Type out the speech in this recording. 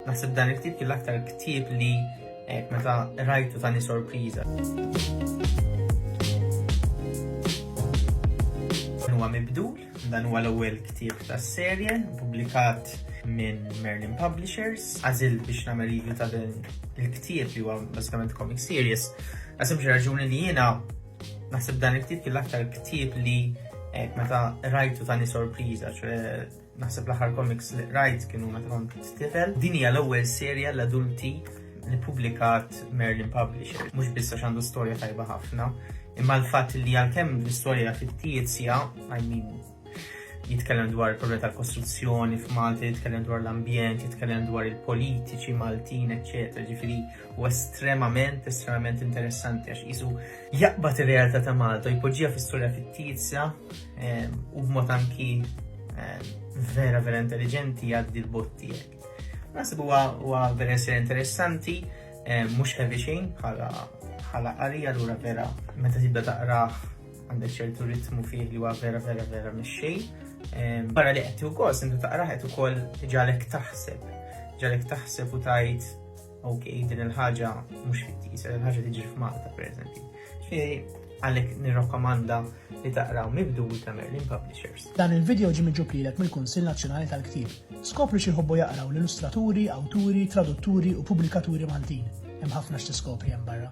Naħseb dan il-ktieb kien l-aktar ktieb li eh, meta rajtu tani sorpriża. Huwa mibdul, dan huwa l-ewwel ktieb tas-serje, pubblikat minn Merlin Publishers. Għażil biex nagħmel review ta' din il-ktieb li huwa bażikament comic series. Għasem xi raġuni li jiena naħseb dan il-ktieb kien l-aktar ktieb li eh, meta rajtu tani sorpriża, ċe Naħseb l-aħħar komiks li qrajt kienu meta kont tifel. Din hija l-ewwel serja l-adulti li publikat Merlin Publisher. Mhux biss għax għandu storja tajba ħafna, imma l-fatt li għalkemm l-istorja fittizja, I mean, jitkellem dwar il-problema tal-kostruzzjoni f'Malta, jitkellem dwar l-ambjent, jitkellem dwar il-politiċi Maltin, eċċetera, ġifieri u estremament, estremament interessanti għax jisu jaqbad ir-realtà ta' Malta, jpoġġija fis-sura fittizja eh, u b'mod anki eh, vera vera intelligenti għaddi l-botti jek. Nasib huwa vera ser interessanti, eh, mhux heavy xejn bħala bħala qari allura vera meta tibda taqrah għandek ċertu ritmu fih li huwa vera vera vera mix-xejn. Barra li qed ukoll, sentu taqrah qed ukoll ġalek taħseb, ġalek taħseb u tajt Ok, din il-ħaġa mhux fittisa, din il-ħaġa tiġi f'Malta, per eżempju. Ġifieri, għalhekk nirrakkomanda li taqraw mibdu ta' Merlin Publishers. Dan il-video ġi miġublilek mill-Kunsill Nazzjonali tal-Ktieb. Skopri xi jħobbu jaqraw l-illustraturi, awturi, tradutturi u pubblikaturi Maltin. Hemm ħafna x'tiskopri hemm barra.